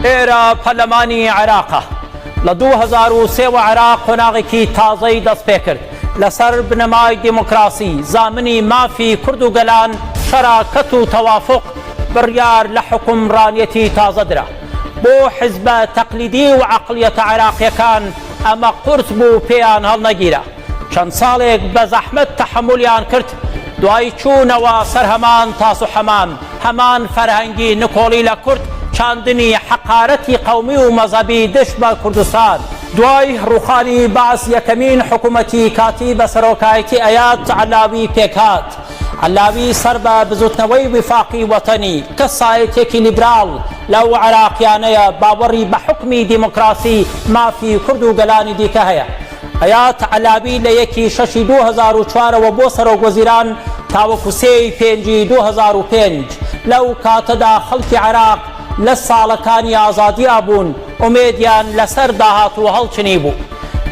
ئێرە پەرلەمانی عێراقە. لە دوو هەزار و سێ وە عێراق قۆناغێکی تازەی دەستپێکرد. لەسەر بنەمای دیموکراسی، زامنی مافی کورد و گەلان، شەراکەت و تەوافوق بڕیار لە حوکمڕانیەتی تازە درا. بۆ حیزبە تەقلیدی و عەقڵیەتە عێراقیەکان ئەمە قورس بوو پێیان هەڵنەگیرا. چەند ساڵێک بە زەحمەت تەحەمولیان کرد، دوای چوونەوە سەر هەمان تاس و حەمام، هەمان فەرهەنگی نکۆڵی لە کورد، چاندنی حەقارەتی قەومی و مەزەبی دژ بە کوردستان. دوای ڕووخانی بەعس یەکەمین حکوومەتی کاتی بە سەرۆکایەتی ئەیاد عەلاوی پێک هات، عەلاوی سەر بە بزووتنەوەی ویفاقی وەتەنی، کەسایەتییەکی لیبراڵ، لەو عێراقییانەیە باوەڕی بە حوکمی دیموکراسی، مافی کورد و گەلانی دیکە هەیە. حەیات عەلاوی لە یەک ی شەش ی دوو هەزار و چوار ەوە بۆ سەرۆک وەزیران تاوەکو سێ ی پێنج ی دوو هەزار و پێنج، لەو کاتەدا خەڵکی عێراق لە ساڵەکانی ئازادیا بوون، ئومێدیان لەسەر داهاتوو هەڵچنیبوو.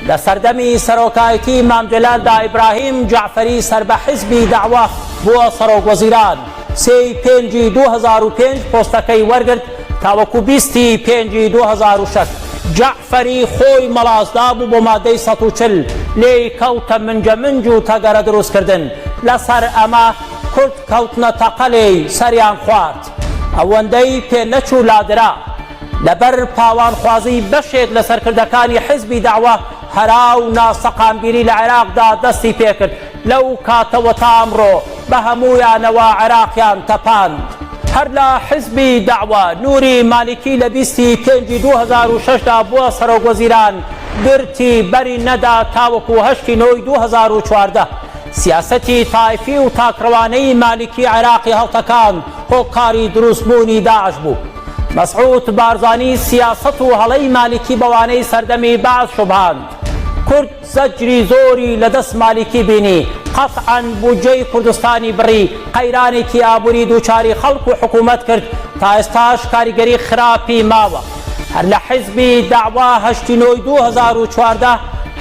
لە سەردەمی سەرۆکایەتی مام جەلالدا ئیبراهیم جەعفەری سەر بە حزبی دەعوە بووە سەرۆک وەزیران. سێ ی پێنج ی دوو هەزار و پێنج پۆستەکەی وەرگرت تاوەکو بیست ی پێنج ی دوو هەزار و شەش. جەعفەری خۆی مەڵاسدا بوو بۆ مادەی سەد و چل، لێی کەوتە منجەمنج و تەگەرە دروستکردن. لەسەر ئەمە کورد کەوتنە تەقە لێی، سەریان خوارد. ئەوەندەی پێ نەچوو لادرا. لەبەر پاوانخوازیی بەشێک لە سەرکردەکانی حیزبی دەعوە، هەرا و ناسەقامگیری لە عێراقدا دەستی پێکرد. لەو کاتەوە تا ئەمڕۆ بە هەموویانەوە عێراقیان تەپاند. هەر لە حزبی دەعوە، نوری مالیکی لە بیست ی پێنج ی دوو هەزار و شەش دا بووە سەرۆکوەزیران، گرتی بەری نەدا تاوەکو هەشت ی نۆ ی دوو هەزار و چواردە. سیاسەتی تایفی و تاکڕەوانەی مالیکی عێراقی هەڵتەکاند، هۆکاری دروستبوونی داعش بوو. مەسعود بارزانی سیاسەت و هەڵەی مالیکی بەوانەی سەردەمی بەعس شوبهاند. کورد. زەجری زۆری لە دەست مالیکی بینی، قەتعەن بودجەی کوردستانی بڕی، قەیرانێکی ئابووری دووچاری خەڵک و حکوومەت کرد، تا ئێستاش کاریگەری خراپی ماوە. هەر لە حیزبی دەعوا هەشتی نۆی دوو هەزار و چواردە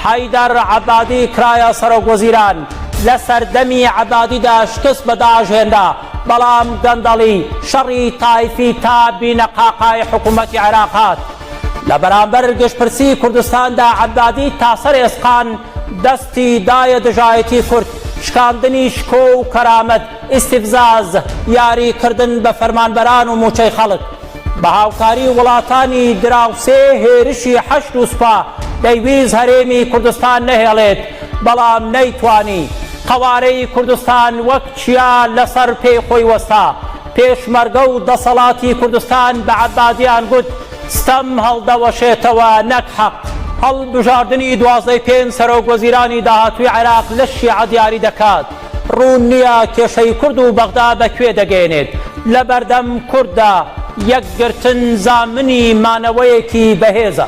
حەیدەر عەبادی کرایە سەرۆکوەزیران، لە سەردەمی عەبادیدا شکست بە داعش هێنرا، بەڵام گەندەڵی، شەڕی تایفی تا بینەقاقای حکوومەتی عێراق هات. لە بەرامبەر گشتپرسی کوردستاندا عەبادی تا سەر ئێسقان دەستی دایە دژایەتی کورد، شکاندنی شکۆ و کەرامەت، ئیستیفزاز، یاری کردن بە فەرمانبەران و مووچەی خەڵک. بە هاوکاری وڵاتانی دراوسێ هێرشی حەشد و سوپا دەیویست هەرێمی کوردستان نەهێڵێت، بەڵام نەیتوانی. قەوارەی کوردستان وەک چیا لەسەر پێی خۆی وەستا، پێشمەرگە و دەسەڵاتی کوردستان بە عەبادیان گوت، ستەم هەڵدەوەشێتەوە نەک حەق. هەڵبژاردنی دوازدەی پێنج سەرۆک وەزیرانی داهاتووی عێراق لە شیعە دیاری دەکات. ڕوون نییە کێشەی کورد و بەغدا بە کوێ دەگەیەنێت. لە بەردەم کورددا یەکگرتن زامنی مانەوەیەکی بەهێزە.